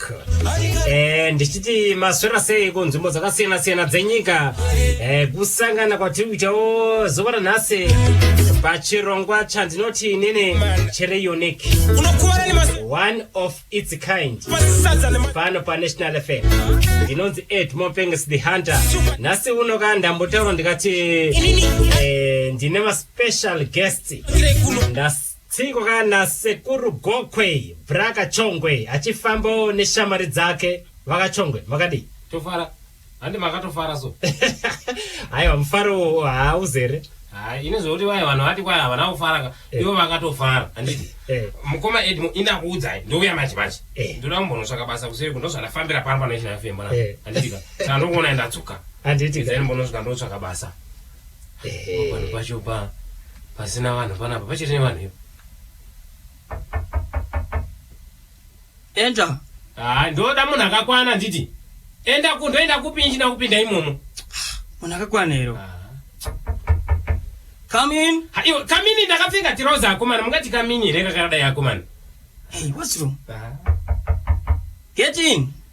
Park eh, ndichiti maswera sei kunzvimbo dzakasiyana siyana dzenyika eh, kusangana kwatiri kuitawo zuva ranhasi pachirongwa chandinoti inini chiri unique unokuvara nemasi- one of its kind masadza nema- pano panational fm ndinonzi ed mopenges the hunter nhasi uno ka ndambotaura ndikati eh, ndine maspecial guest Kire kuno. Ndas- Tsiko kana sekuru Gokwe bra Kachongwe achifambawo neshamwari dzake vakachongwe makadii. Tofara handi makatofara so. Haiwa mufaro uwo hauzere. Haa ini zvekuti vaya vanhu vati kwaya havana kufaraka Eh. ivo vakatofara handiti Eh. mukoma edmo indakuudzai ndouya manje manje Eh. ndoda kumbonosvaka basa kuseri kuno zvandafambira pano panoisha fm Eh. handitika saka ndokuona ndatsuka Handiti ka. izai mbonosvika ndotsvaka basa vanhu pacho pa pasina vanhu panapa pachiri nevanhu ivo enda haa ndoda munhu akakwana nditi enda ku ndoenda kupi ichina kupinda imomo munhu akakwana iro kamin iwe kamini ndakapfeka tiroza akomana mungati kamini here kakadai akomana hey what's wrong get in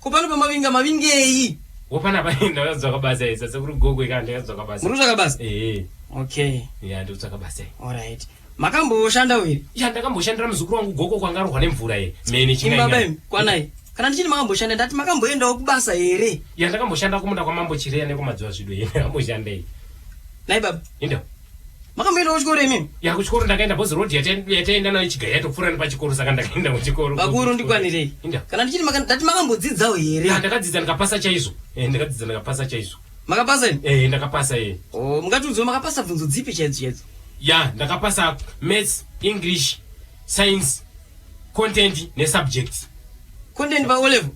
Ko pano pamavinga mavingei? Wo pana paenda ndakazotsvaka basa isa sekuru gogo ikanda ndakazotsvaka basa. Muri kutsvaka basa? Eh. Okay. Yeah, ndiri kutsvaka basa. All right. Makamboshanda here? Yeah, ndakamboshandira muzukuru wangu gogo kwanga arohwa nemvura ye. Mene chimwe. Imba bem, kwanai. Kana ndichini makamboshanda ndati makamboendawo kubasa here? Yeah, ndakamboshanda kumunda kwamambo Chireya nekumadziwa zvido here. Ndakamboshandei. Nai baba. Inda. makamboenda kuchikoro imimi ya kuchikoro ndakaenda bhozi road yataenda nayo chiga yatopfuura nepachikoro saka ndakaenda kuchikoro vakuru ndikwanirei kana ndichiti ndati makambodzidzawo here ah, ndakadzidza ndikapasa chaizvo eh, ndakadzidza ndikapasa chaizvo makapasa ini eh, ndakapasa e oh, mungatiudzio makapasa bvunzo dzipi chaidzo chaidzo ya ndakapasa maths english science content ne subjects content pa o level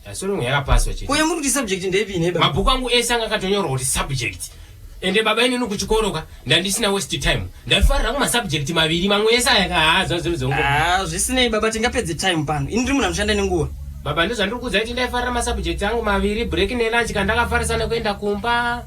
yasorongo yakapaswa chete uye muri kuti subject ndepi neba mabhuku angu ese anga akatonyorwa kuti subject ende baba inini kuchikoro ka ndandisina waste time ndaifarira kuma subject maviri mamwe ese aya kahaza zvinhu zvongo ah zvisinei baba tingapedze time pano ini ndiri munhu anoshanda nenguva baba ndozvandiri kuudza kuti ndaifarira masubject angu maviri break ne lunch kandakafarisa nekuenda kumba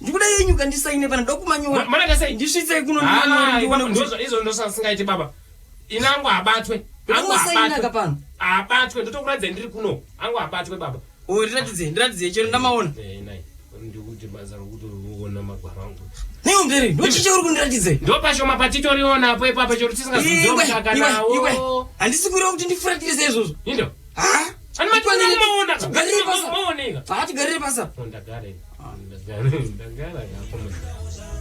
ndikuda yenyu kandisaine pana dokumanyora mana ndasai ndisvitsei kuno ndizvo ndosasingaiti baba ini angu abatwe angu abatwe pano abatwe ndotokuratidza ndiri kuno angu abatwe baba o oh, ndiratidzei ndiratidzei chero ndamaona eh, ndikuti basa rokuti uona magwaro angu neiwo mberi ndochicha uri kundiratidzei ndopashoma patitoriona apo ipapo chero tisingazozoakanawo handisi kureva kuti ndifuratirise izvozvo indo ha anomatwanamaona garirei pasa garirei pasa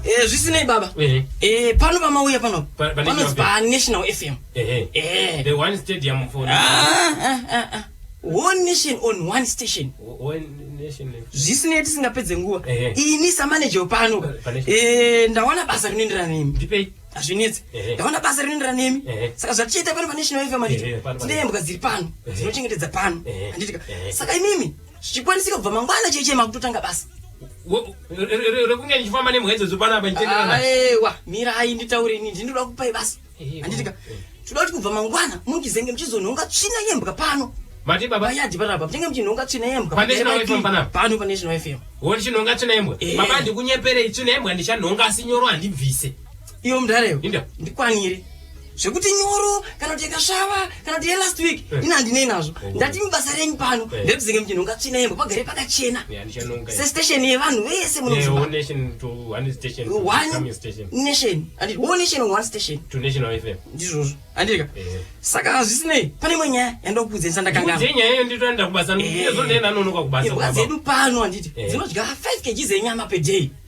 Eh, zvisinei baba eh. Eh, pano pamauya pano panonzi panational fm one nation on one station zvisinei tisingapedze nguva ini samaneja wepano ndawana basa rinoenderana nemi hazvinetsi ndaona basa rinoenderana nemi saka zvatichiita pano panational fm anditi ndeyembwa dziri pano dzinochengetedza pano anditika saka imimi zvichikwanisika kubva mangwana chaiye chaiye makutotanga basa rekunge ndichifamba nemwenzo dzopanapa ndichitenderaaiwa ah, mirai nditaure ini ndinoda kupai basa handitika eh. toda kuti kubva mangwana mungizenge muchizonhonga tsvina yembwa pano mati baba yadi parapa tinge muchinhonga tsvina yembwa pa national fm panapa pano pa national fm woti chinhonga tsvina yembwa eh. baba ndikunyeperei tsvina yembwa ndichanhonga asi nyoro handibvise iyo mudhareyo ndikwanire zvekuti nyoro kana kuti yakasvava kana kuti yelast week eh. ini handinei nazvo oh. ndati mibasa renyu pano eh. ndekuzenge muchinhu ungatsvina yembo pagare pakachena sestation yevanhu vese ndizvozvo andika eh. saka zvisinei pane imwe nyaya yandakuudzesa ndakangaaedu pano handiti dzinodya 5 kg zenyama peday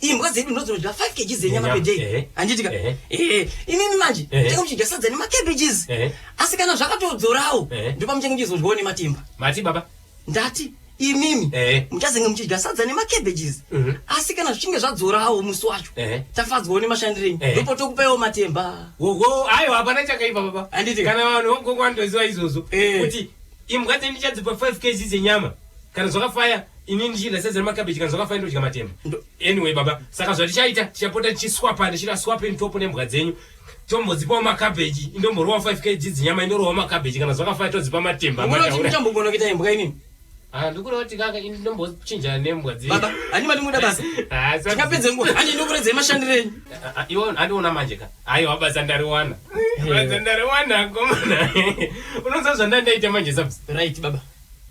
imbwa dzedu ndodzinodya 5 kg dzenyama per day eh. handitika eh. eh, imimi manje tenge muchidya sadza nemacabages asi kana zvakatodzorawo ndopa muchenge muchizodyawo nematimba mati baba ndati imimi muchazenge muchidya sadza nemacabages mhm. asi kana zvichinge zvadzorawo musi wacho tafadzwawo nemashandirenyu ndipo tokupaiwo matemba oho aiwa hapana chakaipa baba handiti kana vanhu vokokwandoziva izvozvo kuti imbwa dzendichadzipa 5 kg dzenyama kana zvakafaya ini ndichienda sezere makabeji kana zvakafaya ndodya matemba anyway baba saka zvatichaita tichapota tichiswapa ndichita swapeni topo nembwa dzenyu tombodzipawo makabeji indomborowa 5 kg dzinyama indorowa makabeji kana zvakafaya todzipa matemba mutambogona kuita imbwa inini ah, ndikureva kuti kaka ini ndombochinja nembwa dzebaba hani mati muda basa ah, tikapedze nguva hani ndokuredzei mashandiro enyu ah, iwo handiona manje ka aiwa basa ndariwana basa ndariwana komana unoziva zvandandaita manje sabs right baba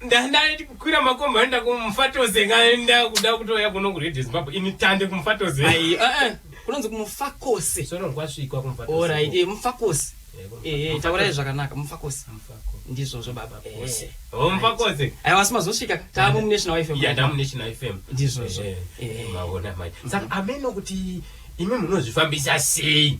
ndandaiti kukwira makombi anoenda kumufatoze ngaenda kuda kutouya kuno kuredio zimbabwe ini tande kumufatoze Ai, eh, eh, kunonzi kumufakose sono rwasvikwa kumufatoze orit eh, mufakose Eh, kumufatoze. Eh, eh, taurai zvakanaka mufakose Mufako. ndizvozvo baba Mufakose. Eh. Oh, mufakose aiwa asi mazosvika taamu munational fm yada munational fm Ndizvozvo. Eh, Eh. maona manje saka ameno kuti imi munozvifambisa sei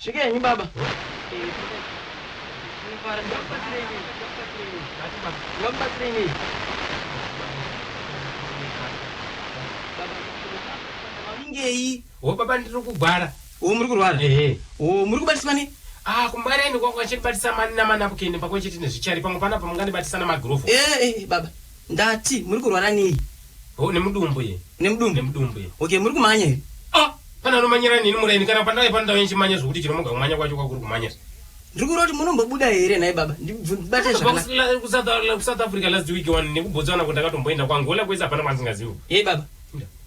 Svikenyi baba. Ngei? Wo baba ndiri kugwara. Wo muri kurwara? Ehe. Wo muri kubatiswa nei? Ah, kumwari aende kwangu achinibatisa mani namanapukeni pakwe chete nezvichari pamwe panapa mungandibatisa namagirovho. Eh, eh, baba. Ndati muri kurwara nei? Oh nemudumbu ye. Nemudumbu? Nemudumbu ye. Okay muri kumanya here? Ah! Pane anomanyira nini muraini kana pandave pano ndave ndichimanya zvekuti chinomuga kumanya kwacho kwakuri kumanya zve. Ndiri kureva kuti munombobuda here nhai baba? Ndibate zvakanaka. Kubva kuSouth Africa last week wani nekubhotsa wana kuti ndakatomboenda kwangu. Hola kwese hapana kwandisingazivi. Yei baba?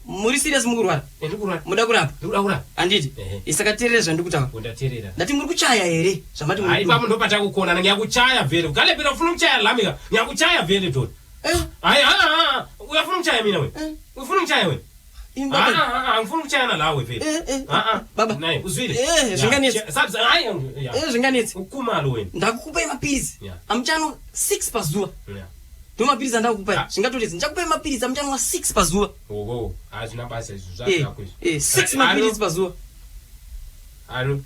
muri serious mukurwara eh, muda kurapa handiti eh. isaka terere zvandikutaura oh, ndati muri kuchaya here zvamati ipapo ndopatakukonana nyakuchaya vere ukalepera ufuna kuchaya lamika nyakuchaya vere dot eh? hai haa uyafuna kuchaya mina we ufuna kuchaya we angifuni kuchaya nalawe vele naye uzwile zvinganetsi ukumalo wena ndakukupa emapizi amuchano six pazuva ndomapiritsi andakupai ah. zvingatotedzi ndichakupai mapiritsi amuchanwa six pazuva oho hazvina basa izvo zvazvako izvo eh, eh, six mapiritsi pazuva alo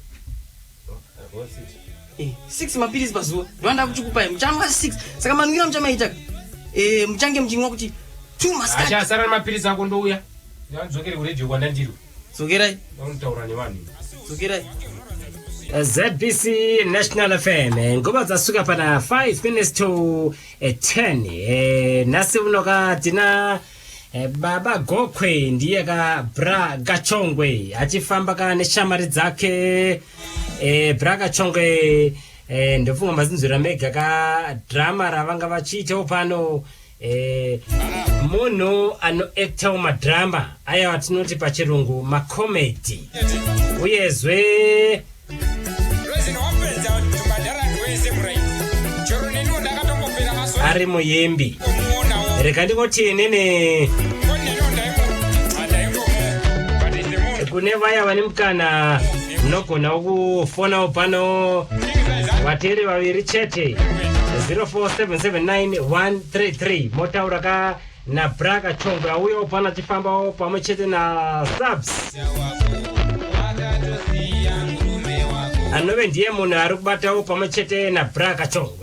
eh, six mapiritsi pazuva ndoanda kuchikupai muchanwa six saka manwira muchamaita muchange muchinwa kuti two maskati achasara nemapiritsi ako ndouya ndandizokere kuredio kwandandiri Tsokerai. Vanotaura nevanhu. Tsokerai. Eh, ZBC National FM eh, nguva dzasuka pana 5 minutes to 10 eh, nhasi unoka tina baba gokwe ndiye ka bra gachongwe achifamba ka neshamari dzake bra gachongwe ndofunga mazinzwira mega ka drama ravanga vachiitawo pano Eh, munhu anoactawo madhirama aya watinoti pachirungu macomedy uyezve ari muimbi reka ndingoti inini kune vaya vane mukana munogona kufonawo pano vateri vaviri chete 04779133 motaura ka nabraka chongwe auyawo pano achifambawo pamwe chete nasubs anove ndiye munhu ari kubatawo pamwe chete nabraka chongwe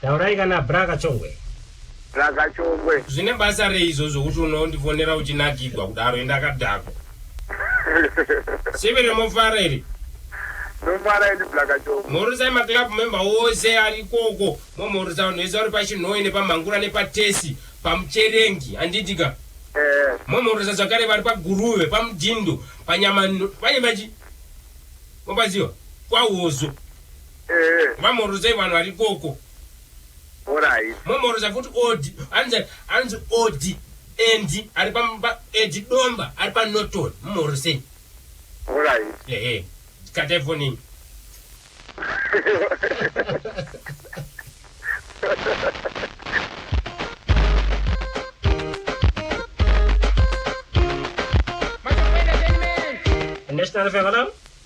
Taurai kana bra kachongwe. Bra kachongwe. Zvine basa rei izvozvo kuti unondifonera uchinakigwa kudaro enda kadhako. Sivi remofara iri. Nomara ini bra kachongwe. Mhorosai ma club member ose ari koko. Momhorosa vanhu vese vari pachinhoyi nepamhangura nepatesi pamucherengi anditika. Eh. Momhorosa zvakare vari paguruve pamudhindo panyama pane machi. Mobaziwa? Kwahozo. mamhorodzai vanhu vari ikoko momhoroza futi od anzi anzi od endi ari pamba edi domba ari panoton mumhorosei ehe katai fonini National FM, hello?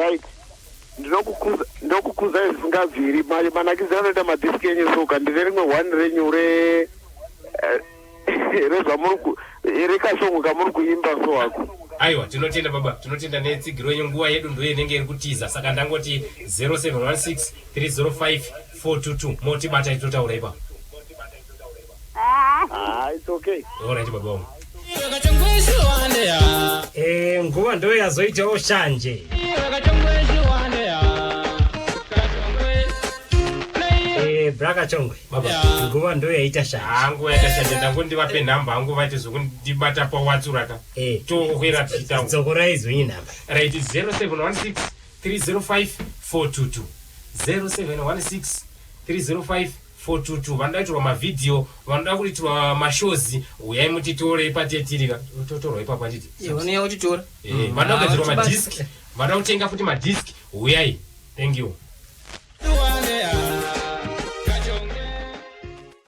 right ndinokukuza ndokukuza zvisingabviri mari manakidzira anoita madhiski enyu soka ndine rimwe one renyu re eh, rezvamuri ku rekashongo kamuri kuimba so hako aiwa tinotenda baba tinotenda netsigiro yenyu nguva yedu ndoyo inenge iri kutiza saka ndangoti 0716 305 422 motibata itotaura ipapo Ah, it's okay. Alright baba wangu. Eh, nguva ndo yazoitawo shanje. Eh, braka chongwe. Baba. Nguva ndo yaita shanje. Hangu yakashanda ndangu ndivape nhamba hangu vaite zvokundibata pawatsura ka. Eh, Tokwera tichitawo. dzokorai zwenyu nhamba. Right 0716 305 422. 0716 305 Fotutu vanoda kuitirwa ma video vanoda kuitirwa ma shows huyai mutitore ipatetiri ka totorwa ipapo handiti Iwe unouya utitora Eh, vanoda kugadzirwa ma Hautibati. disc vanoda kutenga futi ma disc huyai thank you